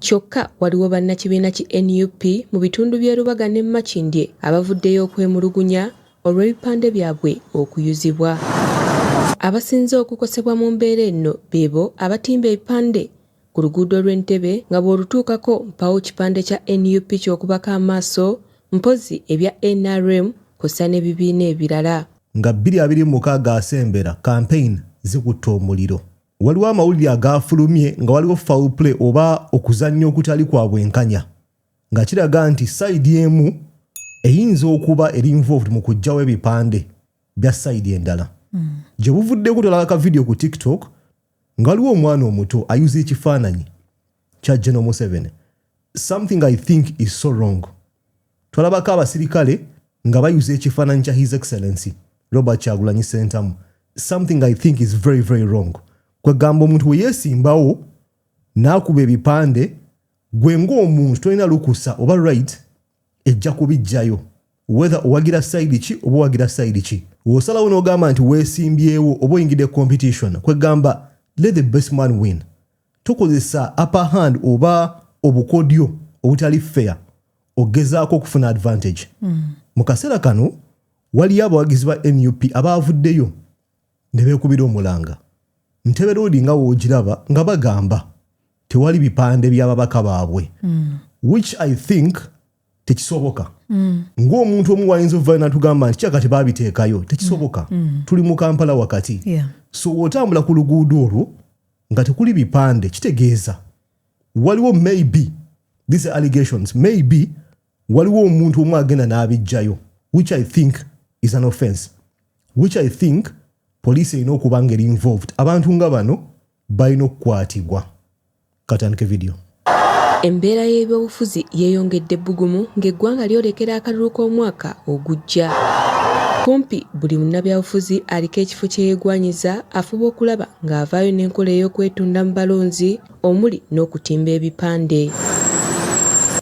Kyokka waliwo bannakibiina ki nup mu bitundu by'e Lubaga ne Makindye abavuddeyo okwemulugunya olw'ebipande byabwe okuyuzibwa. Abasinze okukosebwa mu mbeera enno beebo abatimba ebipande ku luguudo lw'e Ntebe nga bw'olutuukako mpaawo kipande kya nup ky'okubako amaaso mpozzi ebya nrm kwossa n'ebibiina ebirala. Nga bbiri abiri mu mukaaga asembera, Campaign zikutte omuliro. Waliwo amawulire agaafulumye nga waliwo foul play oba okuzannya okutali kwa bwenkanya nga kiraga nti sayidi emu eyinza okuba eri involved mu kuggyawo ebipande bya sayidi endala. Hmm. Gye buvuddeko tulaba ka vidiyo ku TikTok nga waliwo omwana omuto ayuza ekifaananyi kya General Museveni. Something I think is so wrong. Tolabako abasirikale nga bayuza ekifaananyi kya His Excellency Robert Kyagulanyi Sentamu. Something I think is very very wrong. Kwe gamba omuntu we yesimbawo n'akuba ebipande gwe ng'omuntu tolina lukusa oba right ejja kubijjayo wether owagira sayidi ki oba owagira sayidi ki osalawo n'ogamba nti weesimbyewo oba oyingidde competition kwegamba let the best man win tokozesa upper hand oba obukodyo obutali fair okugezaako okufuna advantage mm. mu kaseera kano waliyo abawagizi ba nup abaavuddeyo ne beekubira omulanga ntebe loodi nga woogiraba nga bagamba tewali bipande by'ababaka baabwe mm. which i think tekisoboka mm. ng'omuntu omu wayinza okuvayo natugamba nti kyaka tebabiteekayo tekisoboka mm. mm. tuli mu kampala wakati yeah. so wotambula ku luguudo olwo nga tekuli bipande kitegeeza waliwo maybe these allegations maybe waliwo omuntu omu agenda n'abijjayo which i think is an offense which i think poliisi erina okuba nga eri involved abantu nga bano balina okukwatibwa katandike vidiyo Embeera y'ebyobufuzi yeeyongedde ebbugumu ng'eggwanga lyolekera akalulu k'omwaka ogujja. Kumpi buli munnabyabufuzi aliko ekifo kye yeegwanyiza afuba okulaba ng'avaayo n'enkola ey'okwetunda mu balonzi omuli n'okutimba ebipande.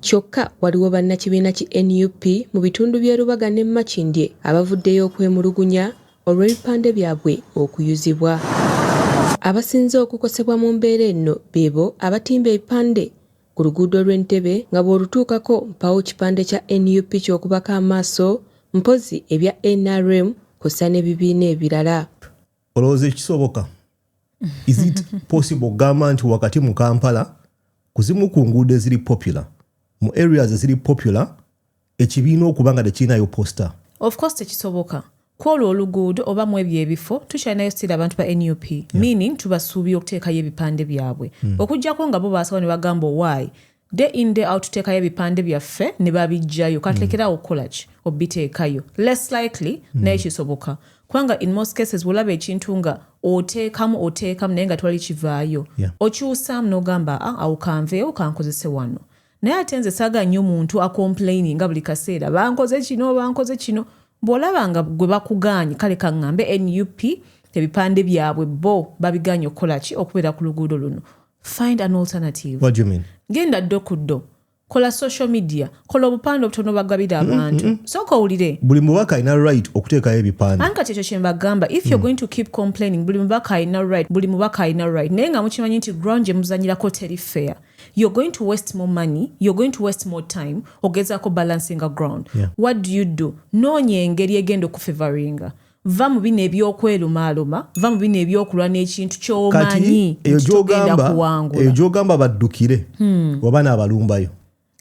Kyokka waliwo bannakibiina ki nup mu bitundu by'e Lubaga ne Makindye abavuddeyo okwemulugunya olw'ebipande byabwe okuyuzibwa. Abasinze okukosebwa mu mbeera enno beebo abatimba ebipande ku luguudo lw'e Ntebe nga bw'olutuukako mpaawo kipande kya nup ky'okubako amaaso mpozzi ebya nrm kwossa n'ebibiina ebirala. Olowooza kisoboka? Is it possible okugamba nti wakati mu Kampala ku zimu ku nguudo eziri popular, mu areas eziri popular Ekibiina okuba nga tekirinayo poster. Of course tekisoboka. Kwolwo oluguudo oba mwebyo ebifo tukyalinayo still abantu ba nup. Yeah. Meaning tubasuubira okuteekayo ebipande byabwe. Mm. Okujjako nga bo basawo nebagamba why day in day out tuteekayo ebipande byaffe nebabijjayo katulekeraawo mm. okukolaki obiteekayo less likely mm. naye kisoboka kubanga in most cases wolaba ekintu nga oteekamu oteekamu naye nga twali kivaayo yeah. okyusaamu nogamba ah, awo kanveewo kankozese wano Naye ate nze saga nyo muntu acomplaininga buli kaseera bankoze kino bankoze kino bwolaba nga gwe bakugaanyi kale kaŋŋambe nup ebipande byabwe bo babigaanyi okukola ki okubeera ku luguudo luno find an alternative What do you mean? genda ddo ku ddo kola social media kola obupande obutono bagabira mm, abantu mm, mm. sooka owulire buli mubaka alina right okuteekayo ebipande anka kyekyo kyembagamba if you're going to keep complaining buli mubaka alina right buli mubaka alina right naye nga mukimanyi nti ground gye muzanyirako teri fair you're going to waste more money you're going to waste more time ogezaako balancinga ground yeah. what do you do noonya engeri egenda okufevaringa va mu bino ebyokwelumaaluma va mu bino ebyokulwa n'ekintu kyomanyi tugenda kuwangula eyo gyogamba baddukire hmm. oba naabalumbayo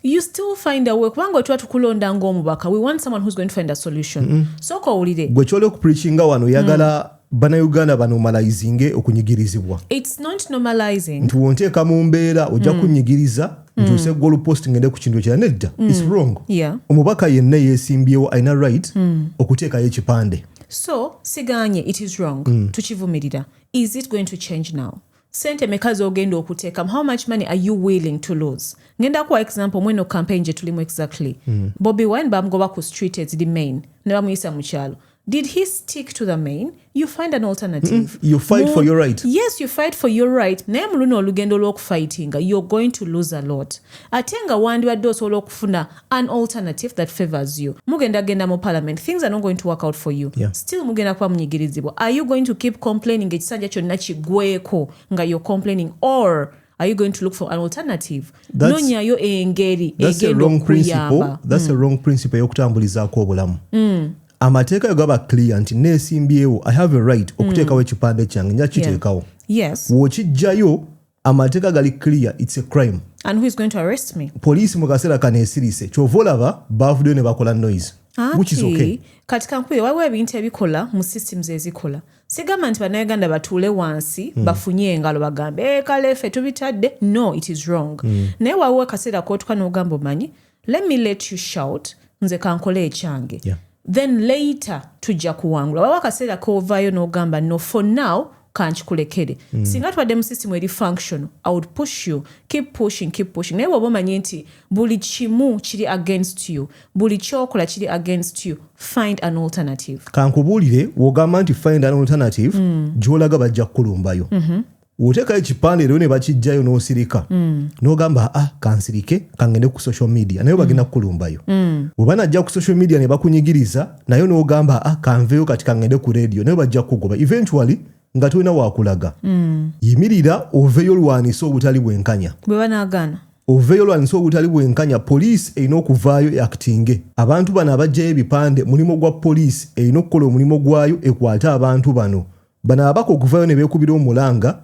you still find a way kubanga wetuba tukulonda ngaomubaka we want someone who's going to find a solution mm -hmm. sooka owulire gwe kyola okupreachinga wano oyagala mm. banauganda banomalizinge okunyigirizibwa nti wonteeka mu mbeera ojja mm. kunyigiriza mm. ntuuse gol post ngende ku kintu ekira nedda mm. is wrong omubaka yenna yesimbyewo alina right okuteekayo ekipande so siganye it is wrong tukivumirira is it going to change now sente meka zogenda okutekamu how much money are you willing to lose ngenda kuwa example mweno campaign gyetulimu exactly mm. bobi wine bamugoba ku street eziri main ne bamuyisa mu kyalo did he stick to the main you find an alternative mm, you fight More, for your right yes you fight for your right naye mu luno olugendo lw'okufightinga you're going to lose a lot ate nga wandibadde osobola okufuna an alternative that favors you mugenda genda mu parliament things are not going to work out for you yeah. still mugenda kuba munyigirizibwa are you going to keep complaining ekisanja kyonna kigweko nga you're complaining or are you going to look for an alternative nonyayo engeri egenda okuyamba that's mm. a wrong principle eyokutambulizaako obulamu mm. amateeka yo gaba clear nti neesimbyewo i have a right okuteekawo mm. ekipande kyange nja kiteekawo yes. wokijjayo amateeka gali clear its a crime and who is going to arrest me poliisi mu kaseera kano esirise kyova olaba baavuddeyo ne bakola noise which is okay kati kankubire waliwo ebintu ebikola mu systems ezikola sigamba nti bannayuganda batuule wansi mm. bafunye engalo bagambe e, kale ffe tubitadde no it is wrong mm. naye waliwo akaseera kotuka n'ogamba omanyi let me let you shout nze kankole ekyange yeah. then later tujja kuwangula waba akaseera kovayo nogamba no for now kankikulekere mm. singa twadde mu system eri function i would push you keep pushing keep pushing naye woba omanye nti buli kimu kiri against you buli kyokola kiri against you find an alternative kankubuulire wogamba nti find an alternative mm. gyolaga bajja kukulumbayo mm -hmm. wotekayo ekipande leero nebakijjayo nosirika mm. nogamba a ah, kansirike kangende ku social media naye bagenda mm. kukulumbayo mm. webanajja ku social media nebakunyigiriza naye nogamba a ah, kanveyo kati kangende ku radio naye bajja kukugoba eventually nga tolina wakulaga mm. yimirira oveyo olwanisa obutali bwenkanya bwebanagana oveyo olwanisa obutali bwenkanya poliisi erina okuvaayo yakitinge abantu bano abajjayo ebipande mulimu gwa poliisi erina okukola omulimu gwayo ekwate abantu bano Bano ababaka okuvayo nebekubira omulanga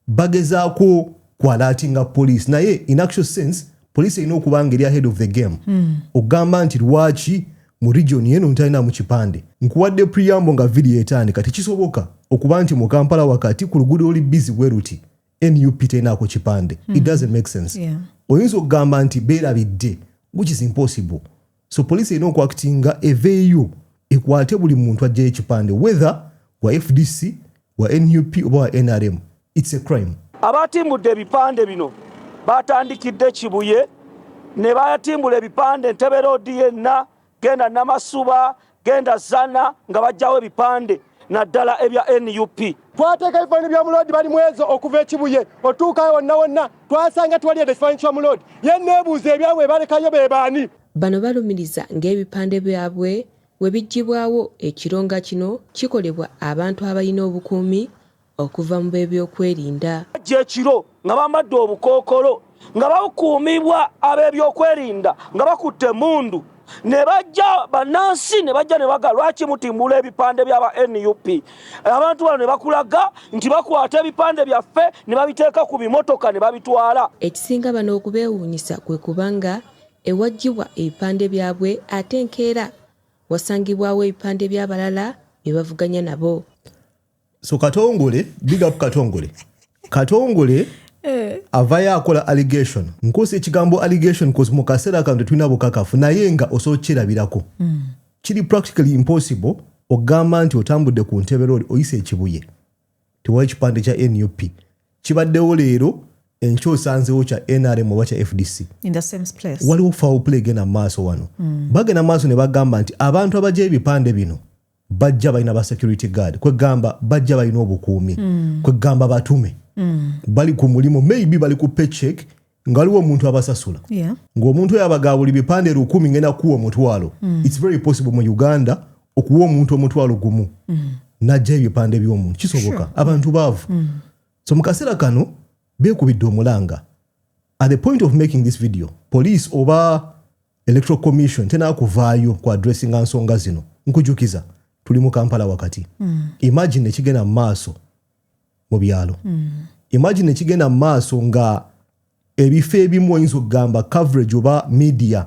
bagezako kwalatinga police naye in actual sense police erina okuba nga eri ahead of the game mm. okugamba nti lwaki mu region yeno ntalinamu kipande nkuwadde preamble nga video etandika tekisoboka okuba nti mu kampala wakati ku luguudo oli busy bweruti nup terinaako kipande mm. it hmm. doesn't make sense yeah. oyinza okugamba nti beerabidde which is impossible so police erina okuakitinga eveeyo ekwate buli muntu ajjayo ekipande whether wa fdc wa nup oba wa nrm its a crime abaatimbudde ebipande bino baatandikidde kibuye ne batimbula ebipande ntebe roodi yenna genda namasuba Genda zana nga bajjawo ebipande naddala ebya nup. Twateeka ebifaananyi bya Muloodi bali mwezo okuva e Kibuye otuukayo wonna wonna twasanga tewali yadde ekifaananyi kya Muloodi. Ye nneebuuza ebyabwe be balekayo be baani? Bano balumiriza ng'ebipande byabwe bwe biggyibwawo ekiro nga kino kikolebwa abantu abalina obukuumi okuva mu b'ebyokwerinda. Bajja ekiro nga bambadde obukookolo nga bakuumibwa ab'ebyokwerinda nga bakutte emmundu ne bajja bannansi ne bajja ne bagala lwaki mutimbula ebipande by'aba nup abantu bano ne bakulaga nti bakwata ebipande byaffe ne babiteeka ku bimotoka ne babitwala. Ekisinga bano okubeewuunyisa kwe kuba nga ewaggyibwa ebipande byabwe ate enkeera wasangibwawo ebipande by'abalala be bavuganya nabo. so katongole big up katongole katongole eh. avayo akola allegation nkosa ekigambo allegation bcause mu kaseera kano tetulina bukakafu naye nga osobola okukirabirako mm. kiri practically impossible ogamba nti otambudde ku ntebe loli oyisa ekibuye tewali ekipande kya nup kibaddewo leero enkyo osanzewo kya nrm oba kya fdc waliwo foul play genda maaso wano mm. bagenda maaso ne bagamba nti abantu abaja ebipande bino bajja balina ba security guard kwegamba bajja balina obukuumi mm. kwegamba batume mm. bali ku mulimu maybe bali ku paycheck nga waliwo omuntu abasasula yeah. ngaomuntu oyo abaga buli bipande lukumi ngenda kuwa omutwalo mm. its very possible mu uganda okuwa omuntu omutwalo gumu mm. najja ebipande byomuntu kisoboka sure. abantu baavu mm. so mu kaseera kano bekubidde omulanga at the point of making this video police oba electoral commission tenaa kuvaayo ku adressinga nsonga zino nkujukiza tuli mu kampala wakati mm. imagine ekigenda mu maaso mu byalo mm. imagine ekigenda mu maaso nga ebifo ebimu oyinza okugamba coverage oba media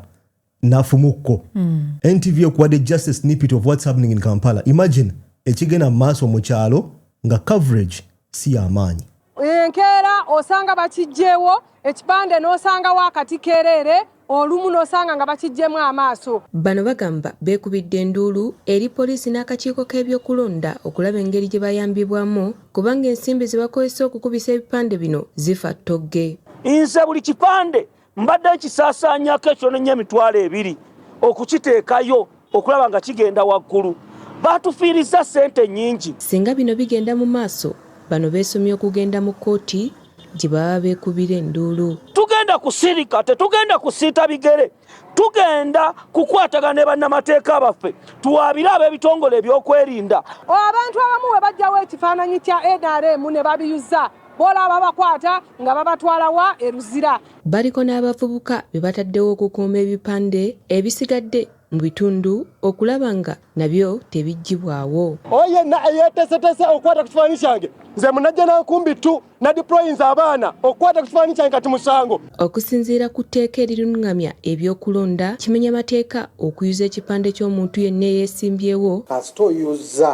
nafumukko mm. ntv ekuwadde just a snippet of what's happening in kampala imagine ekigenda mu maaso mu kyalo nga coverage si yamaanyi enkeera osanga bakijjeewo ekipande n'osangawo akati keereere olumu n'osanga nga bakijjemu amaaso. Bano bagamba beekubidde enduulu eri poliisi n'akakiiko k'ebyokulonda okulaba engeri gye bayambibwamu kubanga ensimbi ze bakozesa okukubisa ebipande bino zifa ttogge. Nze buli kipande Mbadde nkisaasaanyako ekyonenya emitwalo ebiri okukiteekayo okulaba nga kigenda waggulu. Baatufiirizza ssente nnyingi. Singa bino bigenda mu maaso, bano beesomye okugenda mu kkooti gye baba beekubira enduulu. Tugenda kusirika, tetugenda kusiita bigere. Tugenda kukwatagana ne bannamateeka baffe tuwaabire ab'ebitongole ebyokwerinda. Abantu abamu bwe baggyawo ekifaananyi kya nrm ne babiyuza Bw'olaba abakwata nga babatwala wa? E Luzira. Baliko n'abavubuka be bataddewo okukuuma ebipande ebisigadde mu bitundu okulaba nga nabyo tebiggyibwawo. Oyo yenna eyeeteeseteese okukwata ku kifaananyi kyange nze Munajjanankumbi ttu nadiployinze abaana okukwata ku kifaananyi kyange kati musango. Okusinziira ku tteeka erirungamya eby'okulonda, kimenya mateeka okuyuza ekipande ky'omuntu yenna eyeesimbyewo. Kasita oyuzza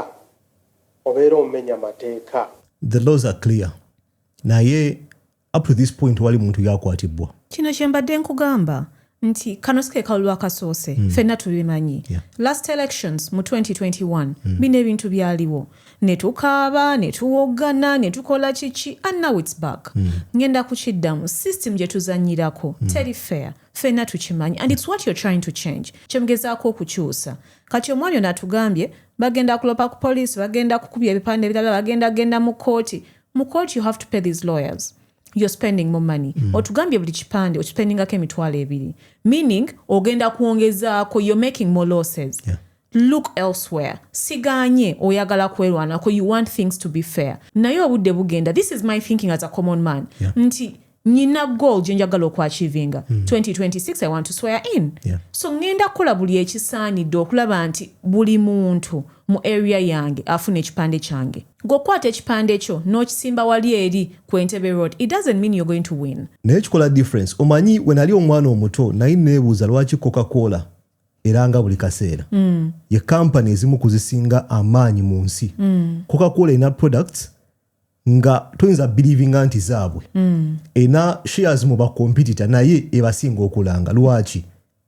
Obeera omenya mateeka. The laws are clear naye up to this point tewali muntu yakwatibbwa. Kino kyembadde nkugamba nti kano sikekalulu akasoose mm. fenna tubimanyi yeah. last elections mu 2021 mm. bino ebintu byaliwo netukaaba netuwoggana netukola kiki and now its back mm. ngenda kukiddamu system gyetuzanyirako mm. teri fair fenna tukimanyi and its what you're trying to change kyemugezaako okukyusa Kati omwami ono atugambye bagenda kulopa ku police, bagenda kukubya ebipande ebirala, bagenda genda mu kooti. Mu kooti you have to pay these lawyers. You're spending more money. Mm. Otugambye buli kipande okispendingako emitwalo ebiri. Meaning ogenda kuongezaako you're making more losses. Yeah. Look elsewhere. Siganye oyagala kwerwanako you want things to be fair. Naye obudde bugenda. This is my thinking as a common man. Yeah. Nti nyina goal gyenjagala okuachivinga mm. 2026 i want to swear in yeah. so ngenda kukola buli ekisaanidde okulaba nti buli muntu mu area yange afuna ekipande kyange gwokwata ekipande kyo n'okisimba wali eri ku entebe road it doesn't mean you're going to win naye kikola difference omanyi wenali omwana omuto naye neebuuza lwaki coca cola era nga buli kaseera mm. ye kampani ezimu kuzisinga amaanyi mu nsi mm. coca cola erina products nga toyinza bilivinga nti zaabwe mm. ena shares mu bakompetita naye ebasinga okulanga lwaki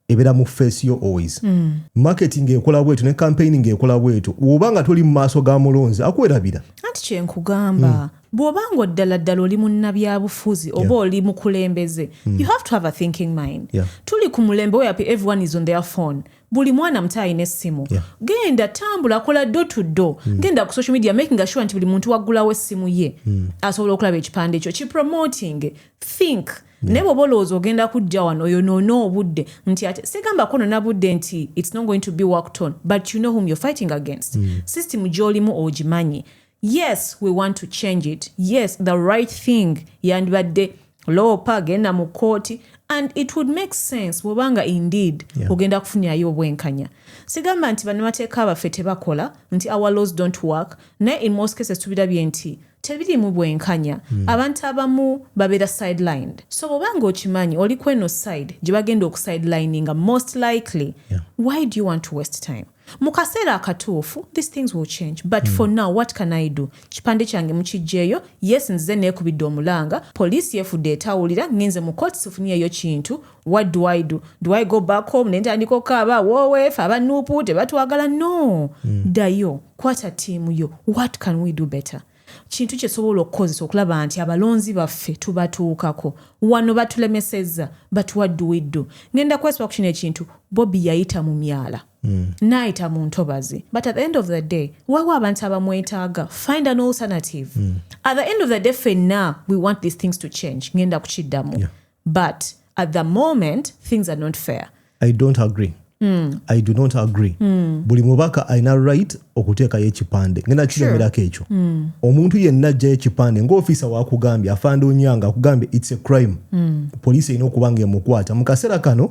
ebeera mu face yo always mm. market ngaekola bwetu ne campaign ngaekola bwetu woba nga toli mu maaso ga mulonzi akuwerabira anti kyenkugamba mm. bwoba nga oddala ddala oli munnabyabufuzi oba yeah. oli mukulembeze mm. you have to have a thinking mind yeah. tuli ku mulembe weyapi everyone is on their phone buli mwana muto alina essimu yeah. genda tambula kola do to do mm. genda ku social media making sure nti buli muntu waggulawo essimu ye mm. asobola okulaba ekipande ekyo ki promoting think yeah. naye bwoba olowooza ogenda kujja wano oyo noona obudde nti ate sigamba kono nabudde nti its not going to be worked on but you know whom you're fighting against mm. system gyolimu ogimanyi yes we want to change it yes the right thing yandibadde loopa genda mu kkooti and it would make sense bwoba nga indeed yeah. ogenda kufunirayo obwenkanya sigamba nti banamateeka abaffe tebakola nti our laws don't work naye in most cases tubirabye nti tebirimu bwenkanya mm. abantu abamu babeera sidelined so bwoba nga okimanyi oli kweno side gye bagenda okusidelininga most likely yeah. why do you want to waste time mu kaseera akatuufu this things will change but mm. for now what can i do kipande kyange mukijjeeyo yes nzize neekubidde omulanga poliisi yefudde etawulira ngenze mu court sifunyeeyo kintu what do i do do i go back home nentandika okukaaba wowefe abanuupu tebatwagala no mm. ddayo kwata tiimu yo what can we do better mm. kintu kye sobola okukozesa okulaba nti abalonzi baffe tubatuukako wano batulemesezza batuwadduwiddu ngenda kwesiba ku kino ekintu bobi yayita mu myala mm. naayita mu ntobazi but at the end of the day waliwo abantu abamwetaaga find an alternative mm. at the end of the day fenna we want these things to change ngenda kukiddamu yeah. but at the moment things are not fair i don't agree Mm. i do not agree mm. buli mubaka alina right okuteekayo ekipande ngenda kiremerako ekyo mm. omuntu yenna ajjayo ekipande ngaofiisa wakugambye afande onyanga akugambye its a crime mm. poliisi erina okuba nga emukwata mu kaseera kano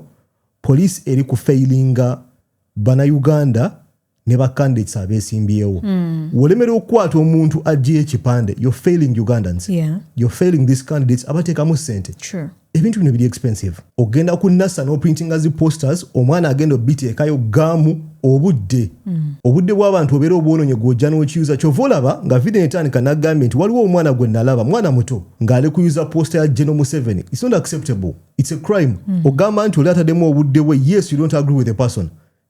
poliisi eri ku failinga banauganda ne ba candidates abesimbyewo mm. wolemera okukwata omuntu ajjayo ekipande yo failing ugandans yeah. yo failing these candidates abateekamu sente ebintu bino biri expensive ogenda ku nasa noprintinga zi posters omwana agenda obiteekayo gamu obudde mm. obudde bw'abantu obeera obwononye gwojja n'okiyuza kyova olaba nga video etandika nagambye nti waliwo omwana gwe nalaba mwana muto ng'ali kuyuza posta ya geno museveni its not acceptable its a crime mm. ogamba nti oli atademu obudde bwe yes you don't agree with a person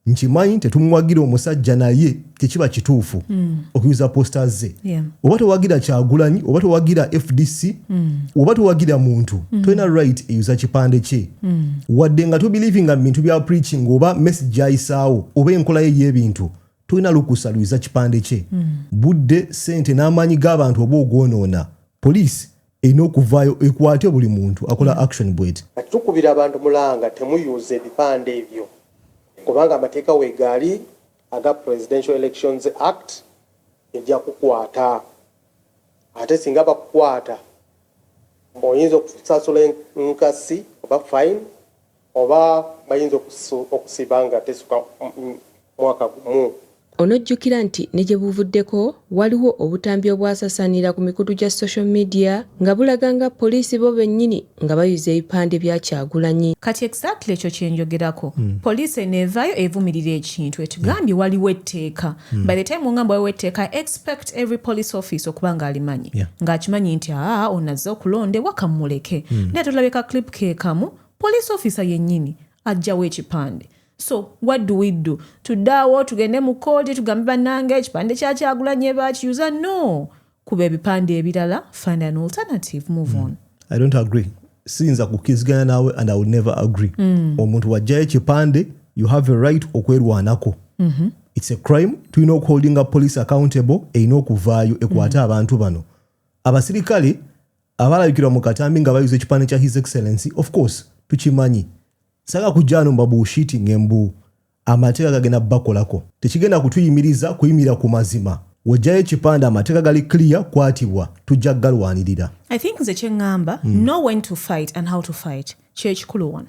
nkimanyi tetumuwagira omusajja naye tekiba kituufu mm. okuyuza posta ze yeah. oba towagira kyagulanyi oba towagira fdc mm. oba towagira muntu mm. tolina right eyuza kipande kye mm. wadde nga tobelivinga mu bintu bya preaching oba message ayisaawo oba enkola ye y'ebintu tolina lukusa luyuza kipande kye mm. budde sente n'amaanyi g'abantu oba ogwonoona poliisi erina okuvaayo ekwate buli muntu akola action bweti. Kati tukubira abantu mulanga temuyuuza ebipande ebyo kubanga amateeka wegaali aga Presidential Elections Act ejja kukwata ate singa bakukwata oyinza okusasula enkasi oba fine. Oba bayinza okusiba nga tesuka mwaka gumu. Onojjukira nti ne gye buvuddeko waliwo obutambi obwasasaanira ku mikutu gya social media nga bulaga nga poliisi bo bennyini nga bayuza ebipande bya Kyagulanyi. Kati exactly ekyo kyenjogerako police eno evayo evumirira ekintu etugambye waliwo etteeka by the time ongamba waliwo etteeka I expect every police office okuba nga alimanyi nga akimanyi nti aa ono azze okulondebwa kamumuleke naye tulabye ka clip kekamu police officer yennyini ajjawo ekipande so what do we do tuddaawo tugende mu kooti tugambe bannanga ekipande kyakyagulanye bakiyuza no kuba ebipande ebirala find an alternative move on i don't agree siyinza kukiziganya naawe and i will never agree mm. omuntu wajjayo ekipande you have a right okwerwanako mm -hmm. it's a crime tulina okuholdinga police accountable erina okuvaayo ekwate mm. abantu bano abasirikale abalabikirwa mu katambi nga bayuza ekipande kya his excellency of course tukimanyi saga kujjaano mbabuushiti ngembu amateeka gagenda bakolako tekigenda kutuyimiriza kuyimirira ku mazima wojjayo ekipande amateeka gali clear kwatibwa tujja galwanirira i think nze kyeŋŋamba mm. know when to fight and how to fight kyekikulu wano